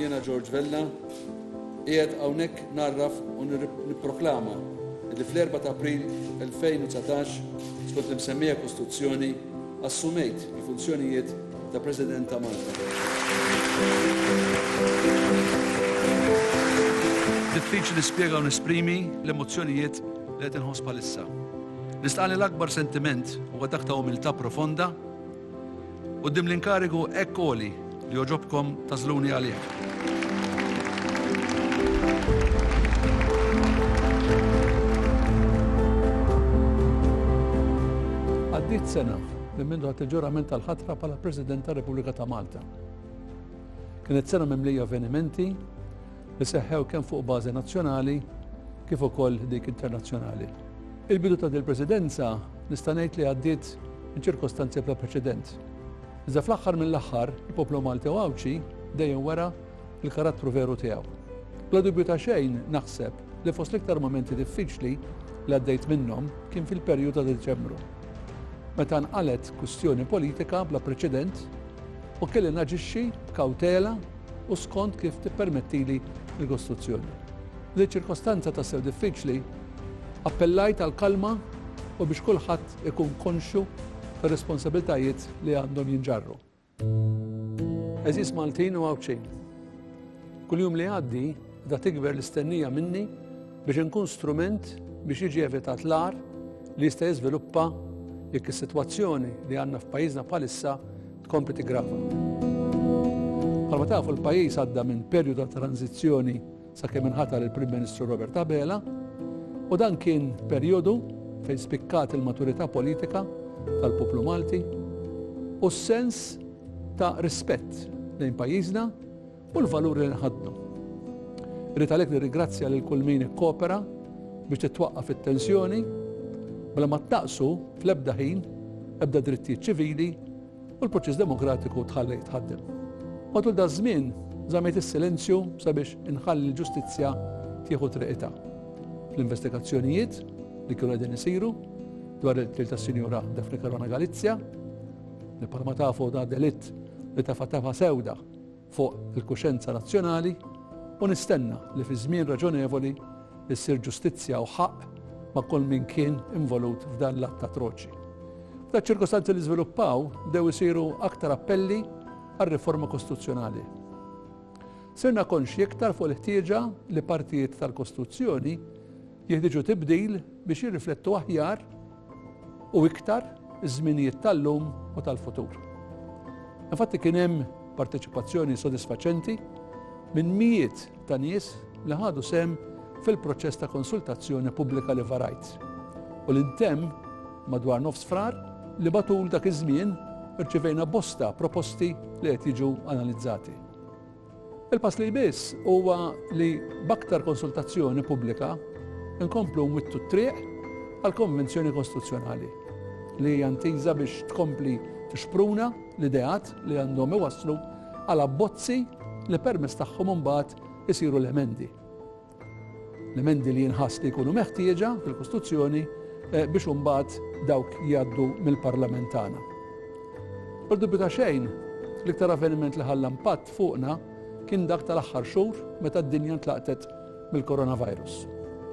Jiena George Vella, qiegħed hawnhekk narraf u nipproklama li fl-4 ta' April 2019 skont l-imsemmija Kostituzzjoni assumejt il-funzjonijiet ta' President ta' Malta. Diffiċli nispjega u nesprimi l-emozzjonijiet Li qed inħoss bħalissa. Nista' li l-akbar sentiment huwa dak ta' umiltà profonda quddiem l-inkarigu hekk għoli li jogħġobkom tażluni għalih. Għaddit sena minn mindu għat il-ġurament tal-ħatra pala President tal-Repubblika ta' Malta. Kienet sena mimlija avvenimenti li seħħew kemm fuq bażi nazzjonali kif ukoll dik internazzjonali. Il-bidu ta' din il-Presidenza nista' ngħid li għaddiet minn ċirkostanzi bla preċedent. Iżda fl-aħħar mill-aħħar, il-poplu Malti u Għawdxi dejjem wera l-karattru veru tiegħu. Bla dubju ta' xejn naħseb li fost l-iktar momenti diffiċli li għaddejt minnhom kien fil-perju ta' Diċembru. Meta nqalet kwistjoni politika bla preċedent u kelli naġixxi b'kawtela u skont kif tippermettili l-kostruzzjoni. F'din iċ-ċirkostanza tassew diffiċli, appellajt għall-kalma u biex kulħadd ikun konxju tar-responsabilitajiet li għandhom jinġarru. Għeżież Maltin u Għawdxin, kull jum li jgħaddi qiegħda tikber l-istennija minni biex inkun strument biex jiġi evitat l-agħar li jista' jiżviluppa jekk is-sitwazzjoni li għandna f'pajjiżna bħalissa Tkompli tiggrafa. Bħalma tafu l-pajjiż għadda minn perju ta' tranzizzjoni sakemm inħatar il-Prim Ministru Robert Abela u dan kien perjodu fejn spikkat il-maturità politika tal-poplu Malti u s-sens ta' rispett lejn pajjiżna u l-valuri li nħadnu. Rrid għalhekk nirrigrazzja lil kull min ikkopera biex titwaqqaf it-tensjoni bla ma taqsu fl-ebda ħin ebda drittijiet ċivili u l-proċess demokratiku tħalli jitħaddem. Matul da żmien żamejt is-silenzju sabiex inħalli l-ġustizzja tieħu triqita. Fl-investigazzjonijiet li kienu qegħdin isiru dwar il-til ta' Sinjura Daphne Karona Galizja, li palma tafu da delitt li tafa tafa sewda fuq il-kuxenza nazzjonali u nistenna li fi żmien raġonevoli ssir ġustizzja u ħaqq ma' kull min kien involut f'dan l-att atroċi. F'da ċirkostanzi li żviluppaw bdew isiru aktar appelli għal riforma kostituzzjonali. Sirna konxji iktar fuq il-ħtieġa li partijiet tal-Kostituzzjoni Jeħtieġu tibdil biex jirriflettu aħjar u iktar iż-żminijiet tal-lum u tal-futur. Infatti kien hemm parteċipazzjoni sodisfaċenti minn mijiet ta' nies li ħadu sehem fil-proċess ta' konsultazzjoni pubblika li varajt u li ntemm madwar nofs frar li matul dak iż-żmien irċivejna bosta proposti li qed jiġu analizzati. Il-pass li jmiss huwa li b'aktar konsultazzjoni pubblika nkomplu nwittu t-triq għall-Konvenzjoni Kostituzzjonali li hija ntiża biex tkompli tixpruna l-ideat li għandhom iwasslu għal abbozzi li permezz tagħhom imbagħad isiru l-emendi. L-emendi li jinħass li jkunu meħtieġa fil-Kostituzzjoni biex imbagħad dawk jgħaddu mill-Parlament tagħna. Bla dubju ta' xejn, l-iktar avveniment li ħalla impatt fuqna kien dak tal-aħħar xhur meta d-dinja ntlaqtet mill-coronavirus.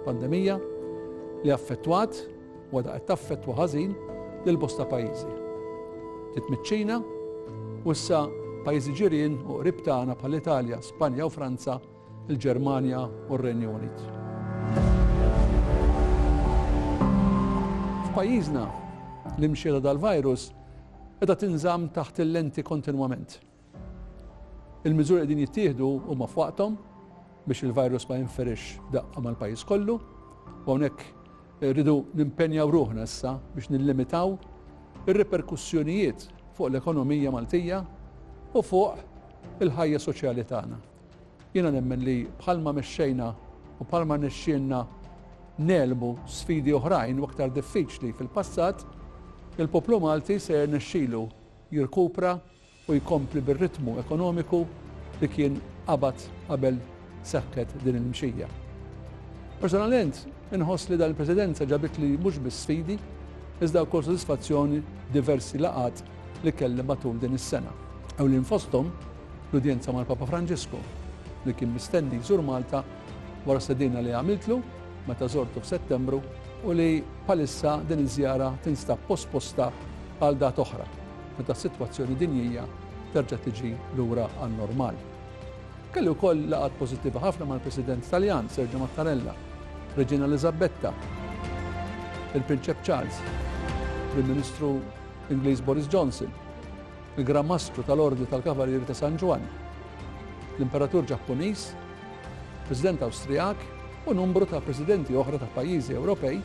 Pandemija li affettwat u għadha qed taffettwa ħażin lil bosta pajjiżi. Titmiċċina u issa pajjiżi ġirien u qrib tagħna bħall-Italja, Spanja u Franza il-Ġermanja u r-Renju Unit. F'pajjiżna, l-imxiera tal-virus qiegħda tinżamm taħt il-lenti kontinwament. Il-miżuri qegħdin jittieħdu huma f'waqthom biex il-virus ma jinferix daqqa mal-pajjiż kollu, u hawnhekk rridu nimpenjaw ruħna issa biex nillimitaw ir-riperkussjonijiet fuq l-ekonomija Maltija u fuq il-ħajja soċjali tagħna. Jiena nemmen li bħalma mexxejna u bħalma rnexxielna negħlbu sfidi oħrajn u aktar diffiċli fil-passat, il-poplu Malti se jirnexxilu jirkupra u jkompli bir-ritmu ekonomiku li kien qabad qabel seħħet din il-mxija. Personalment, inħoss li dan il-Presidenza ġabitli mhux biss sfidi, iżda wkoll sodisfazzjoni f'diversi laqgħat li kelli matul din is-sena. Ewlien fosthom, L-udjenza mal-Papa Franġisku, li kien mistenni jżur Malta wara stedina li għamiltlu meta żortu f'Settembru u li bħalissa din iż-żjara tinstab posposta għal data oħra meta s-sitwazzjoni dinjija terġa' tiġi lura għan-normal. Kelli wkoll laqgħat pożittiva ħafna mal-President Taljan Sergio Mattarella, Reġina Eliżabetta, il-Prinċep Charles, Prim Ministru Ingliż Boris Johnson, Il-Gran Mastru tal-Ordni tal-Kavallieri ta' San Ġwann, l-Imperatur Ġappuniż, President Awstrijak u numbru ta' Presidenti oħra ta' pajjiżi Ewropej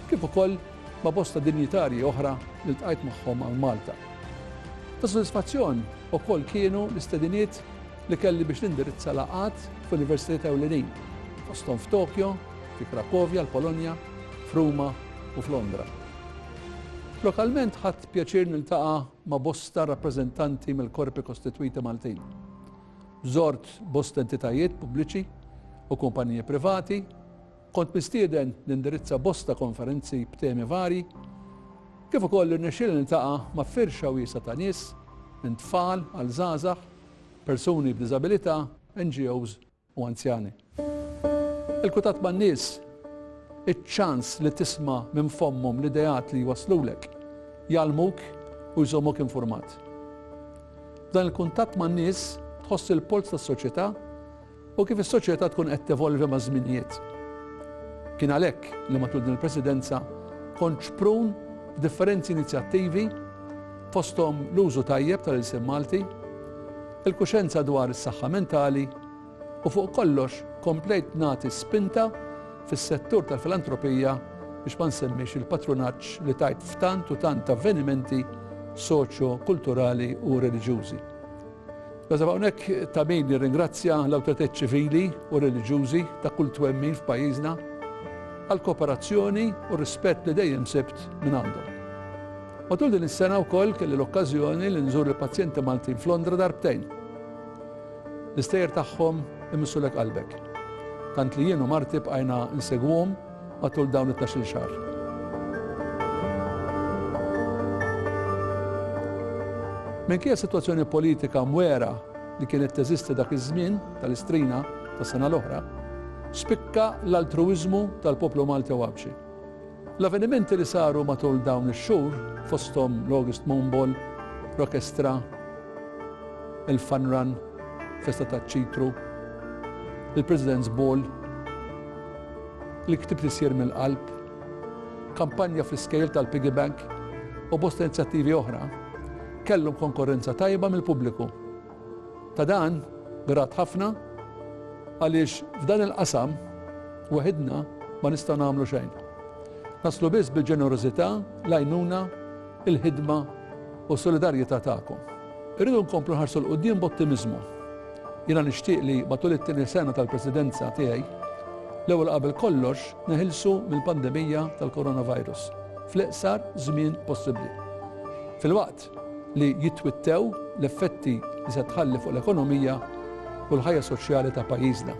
kif ukoll ma' bosta dinjitarji oħra li ltqajt magħhom hawn Malta. Ta' sodisfazzjon ukoll kienu l-istediniet li kelli biex nindirizza laqgħat f'universitajiet ewlenin, fosthom f'Tokyo, fi Krakovja, l-Polonja, f'Ruma u f'Londra. Lokalment ħadt pjaċir niltaqa' ma' bosta rappreżentanti mill-korpi kostitwiti Maltin. Żort bosta entitajiet pubbliċi u kumpaniji privati, kont mistieden nindirizza bosta konferenzi b'temi varji, kif ukoll irnexxieli niltaqa' ma' firxa wiesgħa ta' nies, minn tfal għal żgħażagħ, persuni b'diżabilità, NGOs, u anzjani. Il-kutat man-nies, iċ-ċans li tisma' minn fommhom l-ideat li jwasslulek, jgħallmuk u jżommok infurmat. F'dan il-kuntatt man-nies tħoss il-polz tas-soċjetà u kif is-soċjetà tkun qed tevolvi maż-żminijiet. Kien għalhekk li matul din il-Presidenza kont xprun f'differenzi inizjattivi fosthom l-użu tajjeb tal-ilsien Malti, il-kuxjenza dwar is-saħħa mentali, u fuq kollox komplejt nagħti spinta fis-settur tal-filantropija biex ma nsemmix il-patrunaġġ li tajt f'tant u tant avvenimenti soċjo-kulturali u reliġjużi. Nasab hawnhekk ta' min jirringrazzja l-awtoritajiet ċivili u reliġjużi ta' kull twemmin f'pajjiżna għall-kooperazzjoni u r-rispett li dejjem sibt minn għandhom. Matul din is-sena wkoll kelli l-okkażjoni li nżur il-pazjenti Maltin f'Londra darbtejn. L-istejjer tagħhom imissulek qalbek. Tant li jien u marti bqajna nsegwuhom matul dawn it-tnax-il xahar. Minkejja s-sitwazzjoni politika mwegħra li kienet teżisti dak iż-żmien tal-Istrina tas-sena l-oħra, spikka l-altruwiżmu tal-poplu Malti Għawdxi. L-avvenimenti li saru matul dawn ix-xhur, fosthom l-August Moon Ball, Rockestra, il-Fun Run, Festa taċ-Ċitru, il-President's Ball, Li ktibt isir mill-qalb, kampanja fl-iskejjel tal-piggy bank u bosta inizjattivi oħra kellhom konkorrenza tajba mill-pubbliku. Ta' dan grat ħafna għaliex f'dan il-qasam waħidna ma nistgħu nagħmlu xejn. Naslu biss bil-ġenerożità, l-għajnuna, il-ħidma u s-solidarjetà tagħkom. Irridu nkomplu nħarsu 'l quddiem b'ottimiżmu. Jiena nixtieq li matul it-tieni sena tal-Presidenza tiegħi, l-ewwel qabel kollox neħilsu mill-pandemija tal-coronavirus fl-iqsar żmien possibbli. Filwaqt li jitwittew l-effetti li se tħalli fuq l-ekonomija u l-ħajja soċjali ta' pajjiżna.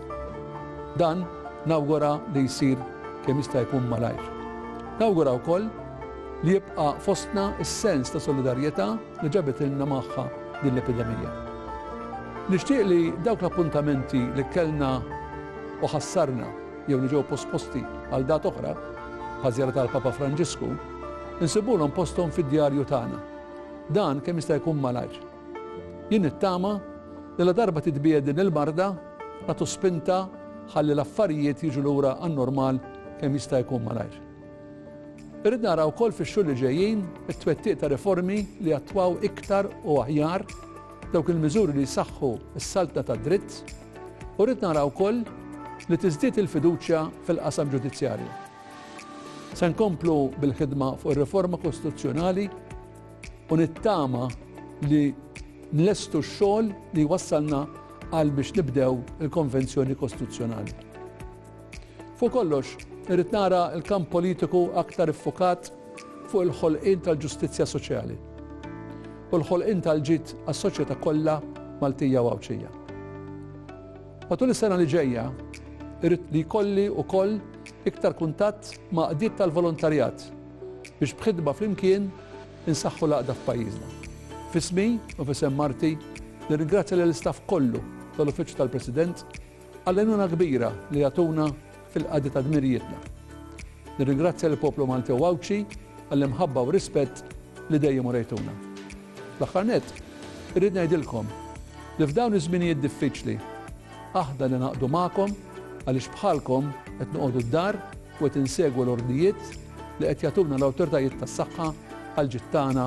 Dan nawgura li jsir kemm jista' jkun malajr. Nawgura wkoll Li jibqa' fostna s-sens ta' solidarjetà li ġabitilna magħha din l-epidemija. Nixtieq li dawk l-appuntamenti li kellna u ħassarna jew li ġew posposti għal dat oħra, bħaż-żjara tal-Papa Franġisku, insibulhom posthom fid-djarju tagħna. Dan kemm jista' jkun malajr. Jien nittama li ladarba titbiegħed din il-marda, nagħtu spinta ħalli l-affarijiet jiġu lura għan-normal kemm jista' jkun malajr. Irrid nara wkoll fix-xhur li ġejjin it-twettiq ta' riformi li jattwaw iktar u aħjar dawk il-miżuri li jsaħħu s-saltna tad-dritt u rrid nara wkoll li tiżdied il-fiduċja fil-qasam ġudizzjarju. Se nkomplu bil-ħidma fuq ir-riforma kostituzzjonali u nittama li nlestu x-xogħol li wassalna għal biex nibdew il-Konvenzjoni Kostituzzjonali. Fuq kollox, irrid nara l-kamp politiku aktar iffukat fuq il-ħolqien tal-ġustizzja soċjali u l-ħolqien tal-ġid għas-soċjetà kollha Maltija u Għawdxija. Matul is-sena li ġejja, irrid li jkolli wkoll iktar kuntatt ma' qdiet tal-volontarjat biex b'ħidma flimkien insaħħu l-għaqda f'pajjiżna. Fismi u fisem Marti, nirringrazzja lill-istaff kollu tal-Uffiċċju tal-President Għall-għajnuna kbira li jagħtuna fil-qadi ta' dmirijietna. Nirringrazzja lill-poplu Malti u Għawdxi għall-imħabba u r-rispett li dejjem urejtuna. Fl-aħħar nett, irrid ngħidilkom li f'dawn iż-żminijiet diffiċli, aħna ningħaqdu magħkom għaliex bħalkom qed noqogħdu d-dar u qed insegwu l-ordnijiet li qed jagħtuna l-awtoritajiet tas-saħħa għall-ġid tagħna